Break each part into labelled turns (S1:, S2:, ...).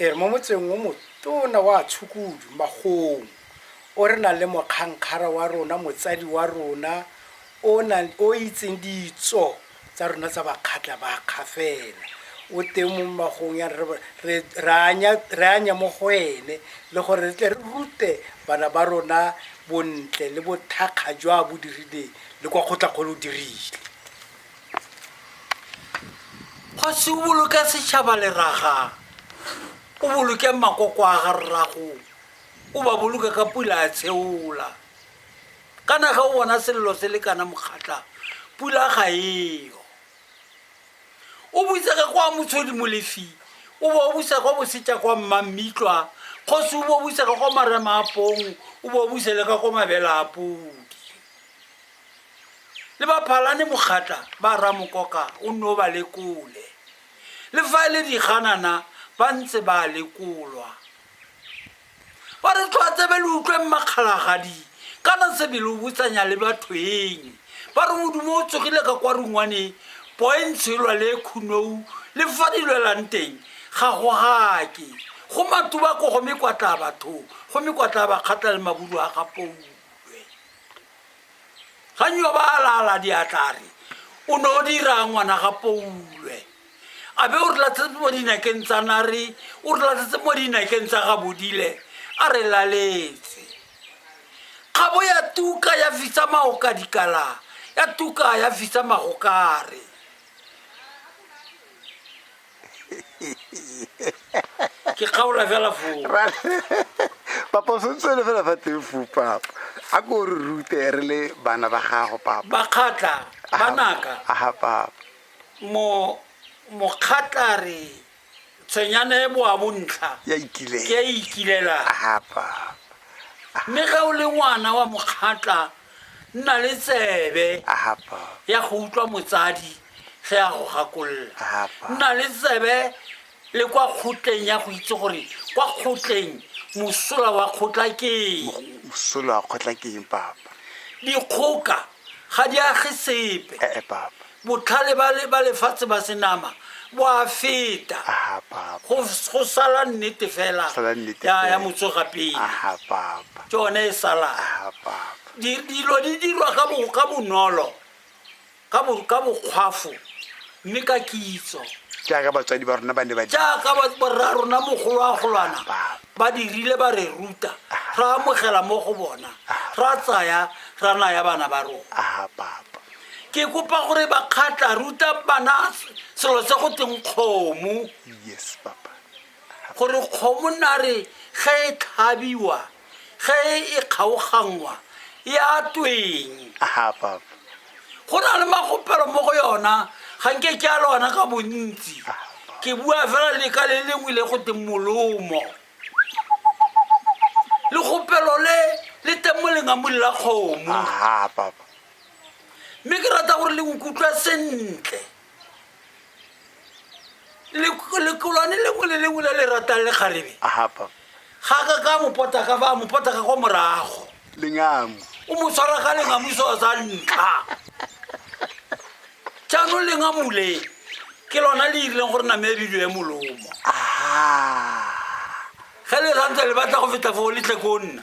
S1: E re mo motseng o motona wa Tshukudu, Magong, o re nang le mokgankgara wa rona, motsadi wa rona o nang o itseng ditso tsa rona tsa bakgatla ba kgafela o teng mo magong ya re re re anya re anya mo go ene le gore re tle re rute bana ba rona bontle le bothakga jwa bo dirileng le kwa kgotlakgolo o dirile
S2: kgosi o boloke setšhaba leraga o boloke makoko a ga rrago o ba boloke ka pula a tsheola kana ga o bona selelo se le kana mokgatla pula ga eo o butse ka kwa motshodi molefi o bo o busa kwa bosetša kwa mmammitlwa kgosi o bo o busa ka kwa marema a pong o bo o busa le ka kwa mabela a podi le ba phalane mokgatla ba ramokoka o nne o ba lekole le fa e le diganana ba ntse ba lekolwa ba re tlho a tsebe le utlweng makgalagadi kana sebele o botsanya le batho eng ba re modumo o tsogile ka kwa rungwane poentshelwa le khunou le fa di lwelang teng ga go gake go matuba ko go mekwatla batho go mekwatla bakgatla le maburu a ga pou ga nyo ba alala diatlare o ne o dira ngwana ga poulwe a be o re latlhetse mo dinakeng tsa nare o re latlhetse mo dinakeng tsa ga bodile a re laletse kgabo ya tuka ya fisa maoka dikala ya tuka ya fisa magokare ke kgaola fela foo
S3: papa o santse le fela fa teng foo papa a ko re rute re le bana ba gago papa bakgatla
S2: banaka aha papa
S3: mo
S2: mokgatla re tshwenyana e boa bontlha ya ikile ke a
S3: ikilela
S2: aha
S3: papa mme
S2: ga o le ngwana wa mokgatla nna le tsebe Ahapa. ya
S3: go utlwa motsadi
S2: ge a go gakolla Apa. nna le
S3: tsebe
S2: le kwa kgotleng ya go itse gore kwa kgotleng mosola wa kgotla ke eng Mosolo wa
S3: kgotla ke eng papa? dikgoka
S2: ga di age sepe Ee papa.
S3: Botlhale ba le
S2: ba lefatshe ba senama bo a feta. Aha papa. Go
S3: go sala
S2: nnete fela. Sala nnete Ya ya fela. motsoga pele. Aha papa.
S3: Ke one e salang.
S2: Aha papa.
S3: Di- Dilo di
S2: dirwa ka bo- ka bonolo, ka bo- ka bokgwafo, mme ka kitso. Jaaka batswadi
S3: ba rona ba ne ba dira. Jaaka ba- borra
S2: rona mogolwagolwana Papa. ba dirile ba re ruta, ra amogela mo go bona, ra tsaya ra naya bana ba rona. Aha papa.
S3: ke kopa
S2: gore bakgatla ruta bana selo se go teng kgomo yes papa
S3: gore
S2: kgomo nare ge e tlhabiwa ge e kgaoganngwa e a tweng aha papa
S3: go na le
S2: magopelo mo go yona ga nke ke a lona ka bontsi ke bua fela leka le lengwe le go teng molomo legopelo le le teng mo lengamong la kgomo aha papa
S3: mme
S2: ke rata gore le nkutlwa sentle lekolwane lengwe le lengwe le le ratang le kgarebe
S3: ga ka ka
S2: mopotaka fa mopotaka kwa morago lengamo
S3: o mo tshwara ka
S2: lengamuso wa sa ntlha jaanong lengamole ke lona le irileng gore name ya bidio ya molomo ge le rantse le batla go feta foo letle ko nna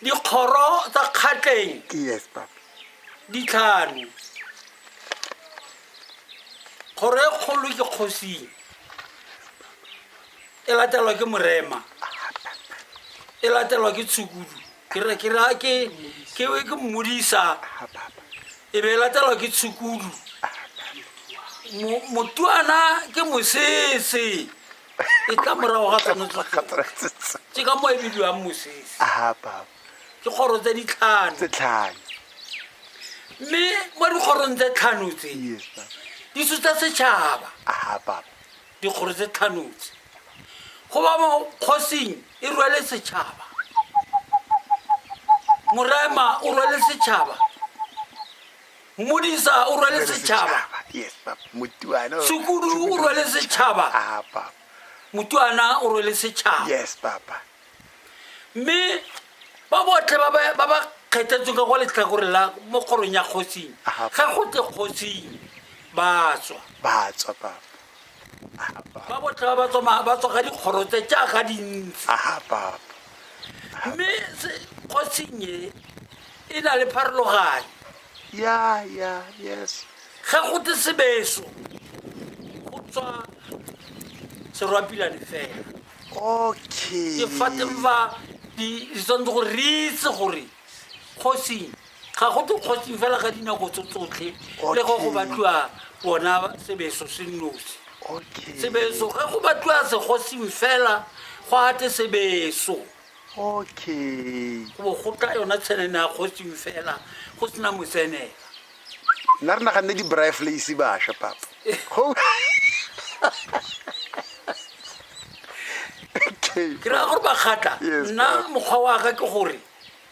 S3: Dikgoro
S2: tsa kgatleng yes,
S3: di tlhano.
S2: Kgoro e kgolo ke kgosing e latelwa ke morema e latelwa ke tshukudu ke mmodisa e be e latelwa ke tshukudu motuana ke mosese e tla morago ga tshwanetse ke ka mo e bidiwang mosese
S3: ke kgoro tse
S2: ditlhano tse tlhano mme mo dikgorong tse tlhano tse di sutsa setšhaba
S3: dikgoro tse
S2: tlhano tse go ba mo kgosing e rwele setšhaba morema o rwele setšhaba modisa o rwale setšhaba
S3: sekudu o rwale
S2: setšhaba
S3: motuana
S2: o rwale setšhaba
S3: mme
S2: ba botlhe ba ba kgethetsweng ka go letlhakore la mo kgorong ya kgosing ga go tle kgosing batswa batswa ba botlhe ba ba tswa ka dikgoro tse jaaka dintsi mme kgosing e e na le pharologanyo ya ya yes
S3: ga go te
S2: sebeso go tswa serwapilane fela okay
S3: ke fateng fa
S2: di di tshwanetse gore re itse gore kgosing ga go te kgosing fela ka dinako tso tsotlhe le go go Okay. batliwa bona sebeso se nnosi okay sebeso ge go batliwa segosing fela go ate sebeso okay
S3: go go tla
S2: yona tshenene ya kgotsing fela go sena motsenela nna
S3: re naganne di-bri flace bašwa papa ke raya gore bakgatla
S2: nna mokgwa
S3: wa ka
S2: ke gore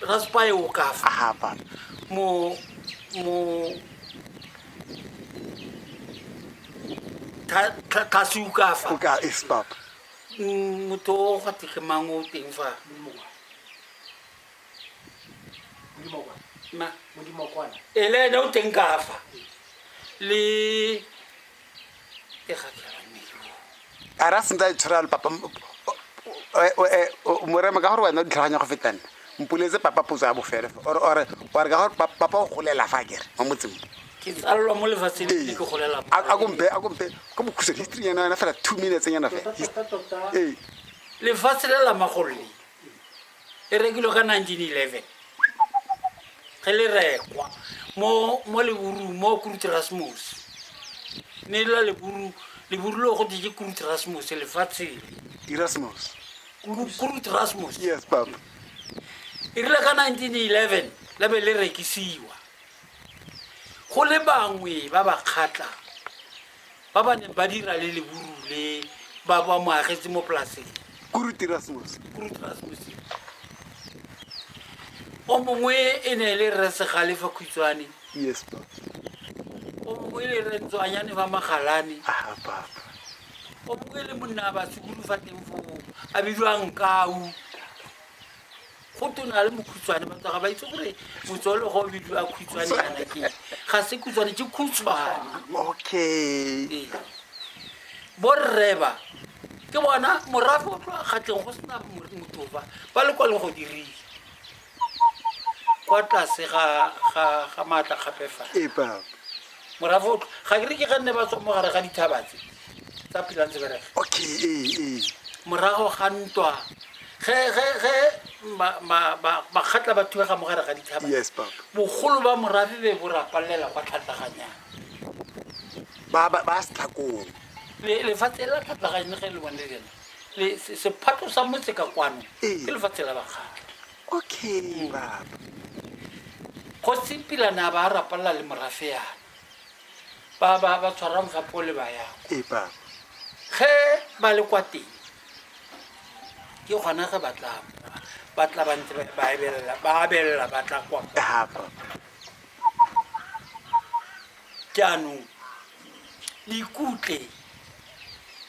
S2: Raspaio kafa. Aha pa. Mo mo tlase o ka fa o ka es papa
S3: mm, motho
S2: o ga tlege mang o teng fa ele ene o teng ka fa le
S3: a ra sentse a itshwara le papa morema ka gore wena o ditlhaganya go feta nna mpuletse papa potso ya bofele ore ka gore papa o golela fa kere mo motseng ke tsalelwa mo
S2: lefatsheng ke golela a kompe a kompe
S3: ko bokhusa history yana yana fela two minutes yana fela ee lefatshe
S2: le la magolole e rekilwe ka 1911 ge le rekwa mo mo leburu mo kurutrasmus ne e la leburu leburu le go dije kurutrasmus lefatsheng Erasmus. kurutrasmus Yes, Papa.
S3: e
S2: rile ka 1911 la be le rekisiwa go le bangwe ba ba kgatlang ba ba neng ba dira le leburu le ba ba mo agetse mo polaseng kuruti rasmose
S3: kuruti rasmose
S2: o mongwe e ne e le rre segale fa khutshwane yes pa
S3: o
S2: mongwe e le rre ntswanyane fa magalane ah papa
S3: o
S2: mongwe e le monna ba sekulu fa teng foo a bidiwang kau go tona le mokhutswane batho ga ba itse gore motswalo ga o bidiwa khutshwane kana ke ga se khutshwane ke khutshwane okay
S3: ee. borreba
S2: ke bona morafe o tloa kgatleng go sena motofa ba le kwa leng go dirile kwa tlase ga maatla gape fa
S3: morafoto
S2: ga ke re ke ga nne ba tswa mo gare ga dithabatse tsa phelang tse bereka okay ee ee
S3: morago
S2: ga ntwa ge ge ge ma- ma- ba- makgatla ba thubega mo gare ga dithaba yes papa bogolo
S3: ba morafe
S2: be bo rapalela kwa tlhatlaganyang
S3: ba ba ba setlhakong Le- lefatshe
S2: la tlhatlaganye ge le bone le lena le- se- sephato sa motse ka kwano Ee. ke lefatshe la bakgatla okay mm.
S3: baba
S2: kgosi pila ne a ba a rapalela le morafe yana ba ba ba tshwara mofapo o le ba yako ee baba
S3: ge
S2: ba le kwa teng ke gona ge ba tla ba tla ba ntse ba ebelela ba abelela ba tla kwa ha
S3: baba
S2: jaanong le ikutlwe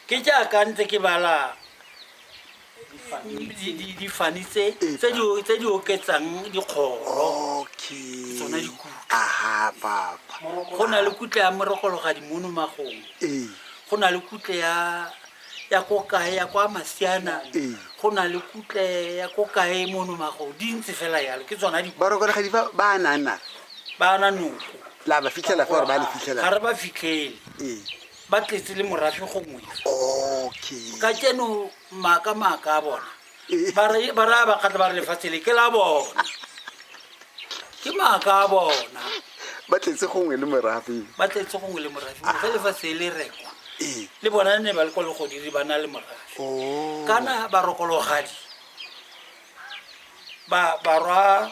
S2: ke jaaka ntse ke bala difane tse di oketsang dikgoro tsone dikutla
S3: go na
S2: le kutle ya morogologa dimono magong go na le kutle ya ya ko kae ya kwa masiana go na le
S3: kutle
S2: ya ko kae mono magong di ntse fela yalo ke tsona di barokologa di fa ba
S3: nana ba na noko
S2: la ba fitlhela fa
S3: ba le fitlhela ga re ba fitlhele
S2: ba tletse le morafe gongwe
S3: okay ka keno
S2: maaka maaka a bona eh. ba re ba
S3: raya
S2: bakgatla ba re lefatshe le ke la bona ke maaka a bona ba tletse
S3: gongwe le morafe ba tletse gongwe le
S2: morafe ga ah. lefatshe le rekwa eh. le bona
S3: ne ba le kwa
S2: legodiri ba na le morafe oh. kana ba rokologadi ba ba rwa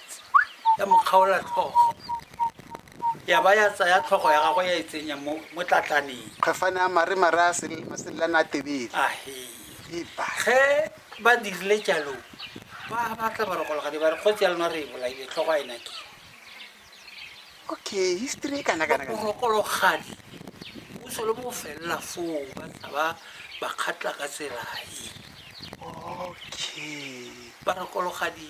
S2: ya mo kgaola tlhogo ya ba ya tsaya tlhogo ya gagwe ya e tsenya mo mo tlatlaneng kgafane a mare
S3: mare a sel- maselelana a tebele ahe epa
S2: ge ba dirile jalo ba batla barogologadi ba re kgotsi ya lona re e bolaile tlhogo a e nake okay
S3: history e kana kana kana borogologadi
S2: o solo mo felela foo ba tla ba ba kgatla ka tsela e okay
S3: barogologadi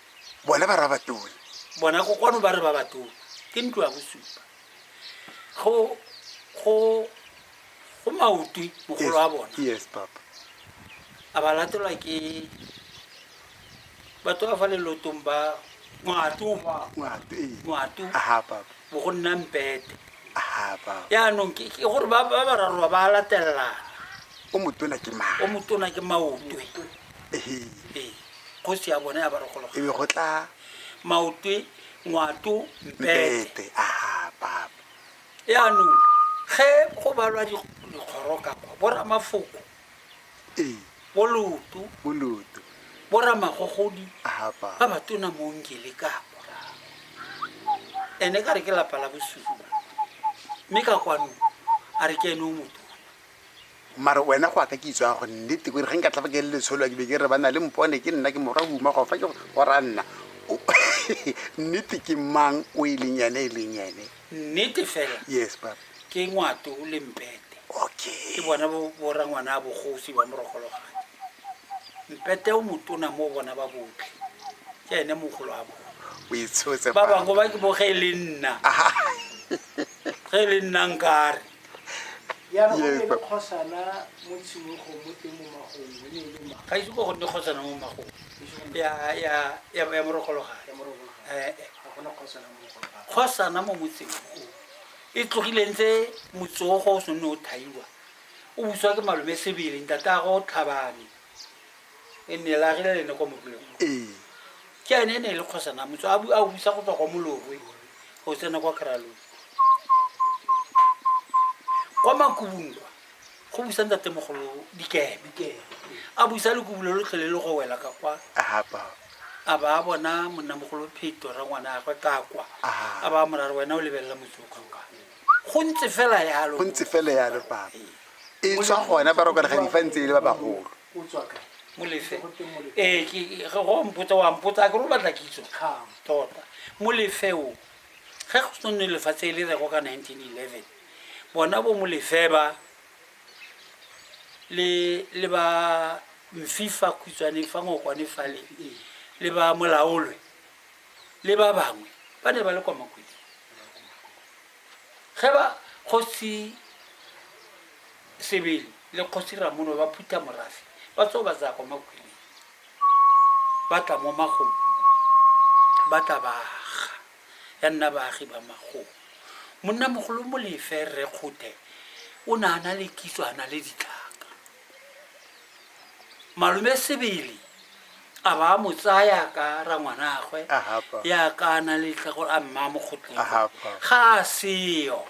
S2: bona ba
S3: rabatone bona go kwano
S2: ba re ba batone ke ntlo ya bosupa go go go maotwi mogolo wa bona yes papa
S3: a ba
S2: latelwa ke batho ba fa lelotong ba ngwato ba ngwato ee
S3: ngwato aha papa bo go nna mpete
S2: aha papa
S3: yaanong ke ke gore ba
S2: ba bararoa ba latelelana o motona
S3: ke o mang motona ke maotwe
S2: ehe ee kgosi ya bone ya barogologa e be go tla
S3: maotwe
S2: ngwato mpete aha papa
S3: yaanong
S2: ge go balwa dikgoroka kwa boramafoko ee boloto boloto boramagogodi aha papa ba ba tona mo ngele ka morago ene ka re ke lapa la bosupa mme ka kwanong a re ke ene o motona Mara
S3: wena go aka kitso ya go nnete kore ge nka tlafa ke le letsholo a ke be ke re ba na le mpone ke nna ke morwa huma go fa ke go ra nna nnete ke mang o e leng ene e leng ene nnete fela
S2: yes papa ke
S3: ngwato o
S2: le mpete okay ke bona bo
S3: bora
S2: ngwana a bogosi ba morogologane mpete o motona mo bona ba botlhe ke ene mogolo a bona o itshotse ba
S3: bangwe ba ke bo ge
S2: e le nna ge e le nna nkare Ga ise go gonne kgosana mo magong ya morogologane kgosana mo motseng o e tlogileng tse motsogo o sonne o thaiwa o buswa ke malome sebele ntatago tlhabane e nne la rile le ne kwa motloleng ee ke ane e ne e le kgosana motso a a busa go tswa kwa molorwe go tsena kwa kry-along kwa makobong kwa go busa ntatemogolo dikeme a busa le kobule lo tlhole le go wela ka kwa a ba a bona monnamogolo pheto ra ngwana a gwe ka kwa a ba morare wena o lebelela motsoka kwa go ntse fela yalo go ntse fela yalo papa
S3: e tswa gona ba roka ga difa ntse e le ba bagolo molefe
S2: ee eh, ge go mpotsa wa mpotsa a ke ro batla kitso tota molefe o ge go se nne lefatshe e le rego ka 1911 bona bo molefe ba le ba mfifa khutshwane fa ngokwane fale le ba molaolwe le ba bangwe ba ne ba le kwa makweding ge ba kgosi Sebele le Kgosi Ramono ba phutha morafe ba tswa ba tsaya kwa makhweleng ba tla mo magong ba tla ba aga ya nna baagi ba magong monna mogolo molefe rre kgothe o ne a na le kitso a na le ditlhaka malome sebele a ba a mo tsaya ka rangwanagwe ya ka
S3: a na le
S2: tlhago a mma mo kgotleng ga a
S3: seyo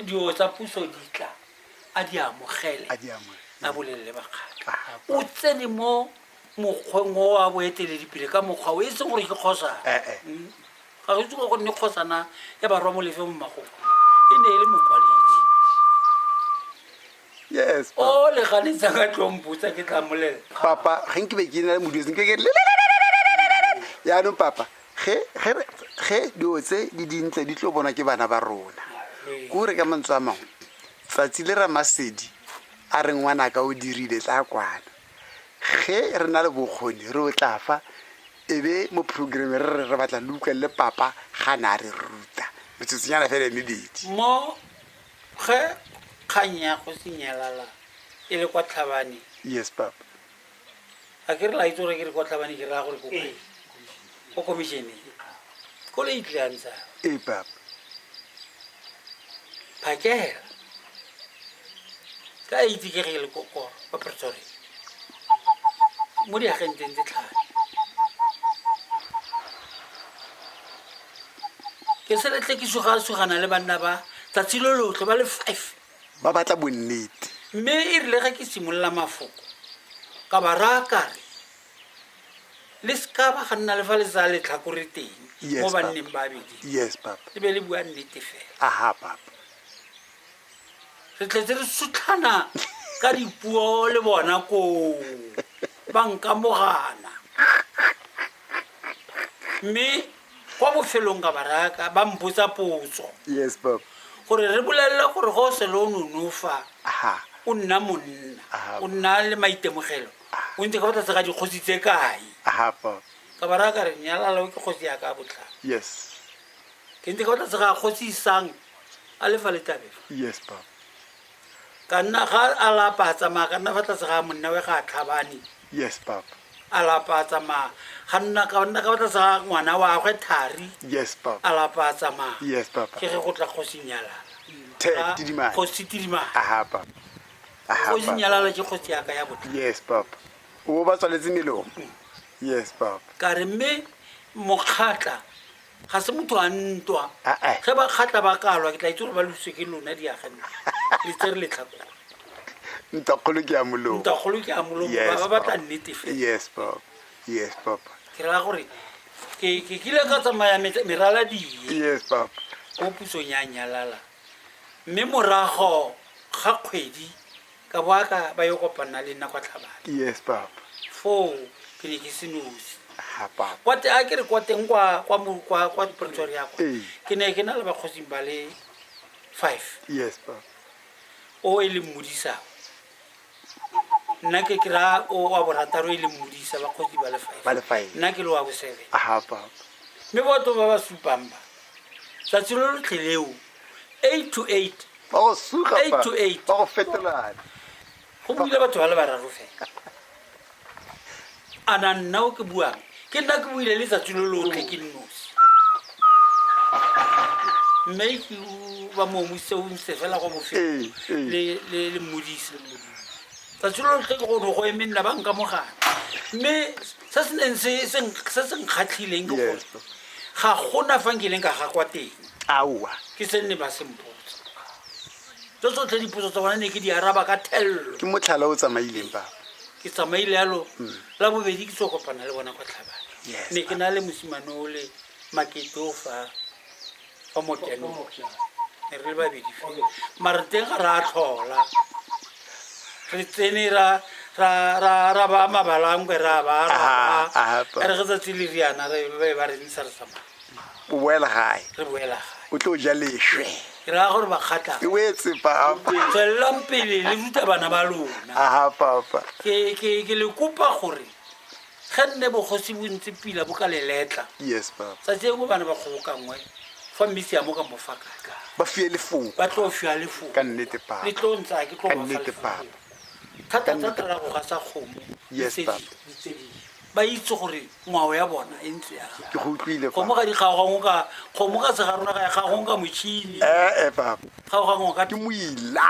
S2: dilo tsa puso di tla a di amogele a
S3: bolelele
S2: bakgatla o tsene
S3: mo
S2: mokgweng o a boeteledipele ka mokgwa o e seng gore ke kgosana eh, eh. hmm? ga go itse go gonne kgosana ya barwa mo lefe mo magogo e ne e le mokwaledi
S3: o le ganetsa ka
S2: tlompotsa ke tla molela papa ga nke be
S3: ke na le moduse ke ke yaanong papa ge ge dilo tse di dintle di tlo bona ke bana ba rona ko re ka mantswe a mangwe tsatsi le ramasedi a re ngwana ka o dirile tla kwana ge re na le bokgoni re o tla fa e be mo programme re re re batla le utlwelele papa ga ne a re ruta metsotsonyana fela e mebedi mo
S2: ge kgang ya go senyalala e le kwa tlhabane yes papa
S3: a
S2: ke re la itse gore ke re kwa tlhabane ke raya gore ko kae? ko commissione ko le itlile a ntsha ee
S3: papa
S2: phakela ka a itse ke ge le ko- ko kwa pretoria mo diagenteng tse tlhano ke seletle ke sugasugana le banna ba tsatsi lo lotlhe ba le five ba batla bonnete
S3: mme e rile ge
S2: ke simolola mafoko ka ba raya kare le seka ba ga nna le fa le tsaya letlhakore teng Yes, mo Papa. banneng ba
S3: bedi yes
S2: papa le be le
S3: bua nnete
S2: fela aha papa re tletse re sutlhana ka dipuo le bona koo ba nkamogana mme kwa bofelong ka baraka ba mpotsa potso yes papa
S3: gore re bolelele
S2: gore go se le o nonofa aha o
S3: nna monna
S2: Aha. o nna le
S3: maitemogelo
S2: o ntse ka fa tlase ga dikgosi tse kae aha papa
S3: ka bara ka re
S2: nyalalo ke kgosi ya ka botla yes
S3: ke ntse
S2: ka fa tlase ga kgosi isang a lefa letabelo yes papa
S3: ka
S2: nna ga a lapa a tsamaya ka nna fa tlase ga monna we ga a tlhabane yes papa
S3: a lapa a
S2: tsamaya ga nna ka nna ka fa tlase ga ngwana wa gwe thari yes papa a
S3: lapa a tsamaya
S2: yes papa ke ge go
S3: tla kgosi
S2: nyalala
S3: kgosi tidimane
S2: aha
S3: papa kgosi nyalala ke
S2: kgosi yaka
S3: ya
S2: botla yes papa
S3: o ba tswaletse melomo yes papa ka re mme
S2: mokgatla ga se motho a ntwa Ah, ah. ge ba kgatla
S3: ba kalwa
S2: ke tla itse gore ba lose ke lona diagane le tse re letlhako
S3: ntakgolo ke ya molomo ntakgolo ke a molomo
S2: Yes, ba ba batla Papa. nnete
S3: fela
S2: yes papa
S3: yes papa ke raya gore
S2: ke ke kile ka tsamaya met- merala die yes papa
S3: ko pusong ya
S2: nyalala mme morago ga kgwedi Ka bo a ka ba yo kopana le nna kwa Tlhabane. Yes papa.
S3: Foo
S2: ke ne ke se nosi. Ha papa. Kwa
S3: te a ke re kwa teng
S2: kwa kwa mo kwa kwa Pretoria kwa. Ee. Ke ne ke na le
S3: bakgosi
S2: ba le 5. Yes papa.
S3: O
S2: e le mmodisa. Nna ke kra o wa borataro e le mmodisa bakgosi ba le 5. Ba le 5. Nna ke le wa
S3: bo
S2: 7.
S3: Ha
S2: papa.
S3: Mme batho ba
S2: ba supang ba. Tsatsi lo lo tlheleo. 8 to 8 ba go suga
S3: Eight fa, to eight. ba go
S2: fetolane
S3: go
S2: buile batho ba le bararo fela a na nna o ke buang ke nna ke buile letsatsi lo lotlhe ke nnosi mme ke o- ba momuse o ntse fela kwa bofelo Ee, ee. le- le le mmodise le mmodise. tsatsi lo lotlhe ke gone go eme nna ba nka mogana mme se se neng se- se- se se nkgatlhileng ke gore ga
S3: gona
S2: fa nkileng ka ga kwa teng aowa ke
S3: se nne ba
S2: sempotsa tso tsotlhe dipotso tsa bona ne ke di araba ka thelelo ke motlhala o tsamaileng
S3: papa ke tsamaile yalo
S2: la bobedi ke tso kopana le bona kwa tlhabane Yes, ne ke na le
S3: mosimane
S2: o le makete o fa ba motenong ne re le babedi fe mare teng ga ra tlhola re tsene ra ra ba mabalangwe ra ba
S3: re ge tsatsi le riana
S2: re be ba re ntsha re tsamaya o boela
S3: gae re boela gae o
S2: tlo ja leswe
S3: ke raya gore
S2: bakgatla e wetse papa
S3: tswelelang pele
S2: le ruta bana ba lona aha papa
S3: ke ke ke le
S2: kopa gore ge nne bogosi bo ntse pila bo ka leletla yes papa tsatsi
S3: engwe bana ba
S2: kgobokangwe fa mmisi ya mo ka mofa kaka ba fiye lefoko
S3: ba tlo fiwa lefoko
S2: ka nnete papa le tlo
S3: ntsa ke tlo ka
S2: nnete papa
S3: thata tsa tala
S2: go ga sa kgomo yes papa
S3: ba
S2: itse gore ngwao ya bona e ntse ya ke go utlwile papa kgomo
S3: ga di kgaogangwe ka kgomo
S2: ka se ga rona ga ya kgaogong ka motšhini eh eh papa kgaogangwe ka ke moila